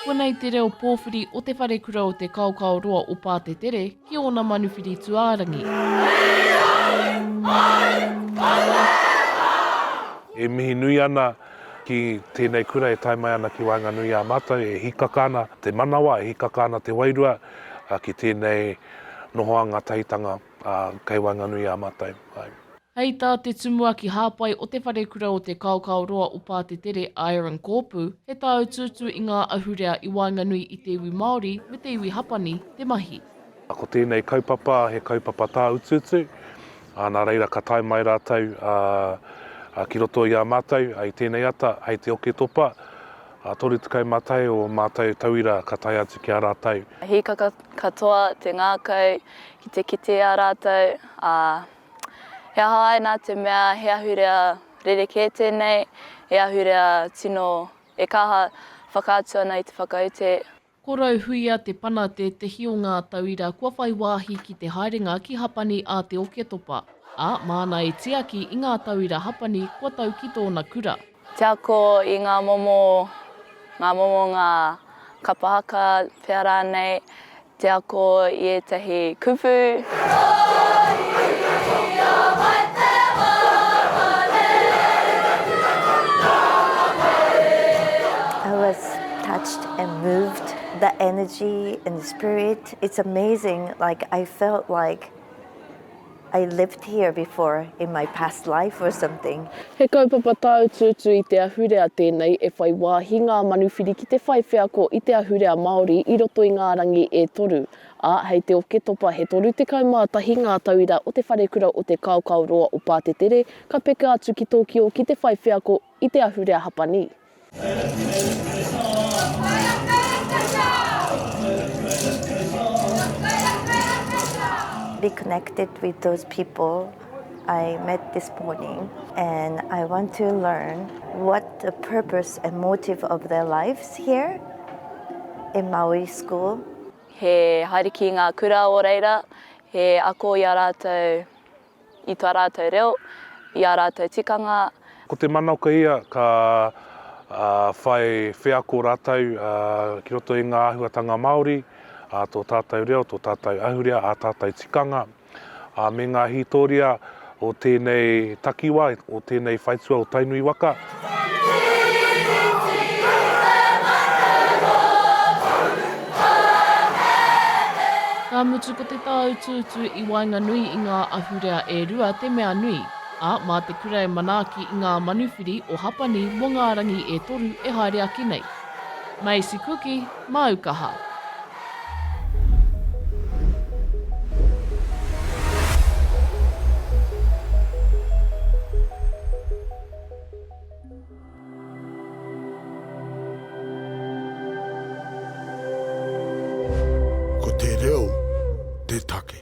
Konei te reo pōwhiri o Te Wharekura o Te Kaokaoroa o Pātetere ki ōna manuwhiri tuārangi. E mihi nui ana ki tēnei kura e tae mai ana ki waenganui i a mātou, e hīkaka ana te manawa, e hīkaka ana te wairua ki tēnei nohoanga tahitanga. Ā, kei waenganui i a mātou. Hei tā te Tumuaki Hāpai o Te Wharekura o Te Kaokaoroa o Pātetere, a Aaron Kōpū, he tāutuutu i ngā ahurea i waenganui i te iwi Māori me te iwi Hapani te mahi. Ko tēnei kaupapa he kaupapa tāutuutu, ā, nā reira ka tae mai rātou ki roto i a mātou i tēnei ata hei te Oketopa. Ā toru tekau mā tai o mātou tauira ka tae atu ki a rātou. Hīkaka katoa te ngākau ki te kite i a rātou, ā, he aha ai nā te mea he ahurea rerekē tēnei, he ahurea tino e kaha whakaatu ana i te whakaute Ko Rauhuia Te Pana tētehi o ngā tauira kua whai wāhi ki te haerenga ki Hapani a Te Oketopa, ā, māna e tiaki i ngā tauira Hapani kua tau ki tōna kura. Te ako i ngā momo, ngā momo, ngā kapa haka pea rānei, te ako i ētahi kupu. I was touched. and moved the energy and the spirit it's amazing like I felt like I lived here before in my past life or something. He kaupapa tāutuutu i te ahurea tēnei e whai wāhi ngā manuwhiri ki te whai wheako i te ahurea Māori i roto i ngā rangi e toru, ā, hei te Oketopa he 31 ngā tauira o Te Wharekura o Te Kaokaoroa o Pātetere ka peka atu ki Tokio ki te whai wheako i te ahurea Hapani. Be connected with those people I met this morning and I want to learn what the purpose and motive of their lives here in Maui school. He haere ki ngā kura o reira, he ako i a rātou. i tō rātou reo, i ā rātou tikanga. Ko te manaoka ia ka whai wheako rātou ki roto i ngā āhuatanga Māori, tō tātou reo, tō tātou ahurea, ā tātou tikanga, me ngā hītoria o tēnei takiwā, o tēnei whaitua o Tainui waka. Ka mutu ko te tāutuutu i waenganui i ngā ahurea e rua te mea nui, ā, mā te kura e manaaki i ngā manuwhiri o Hapani mō ngā rangi e toru e haere ake nei. Macy Kuki, māu kaha. Ko te reo te take.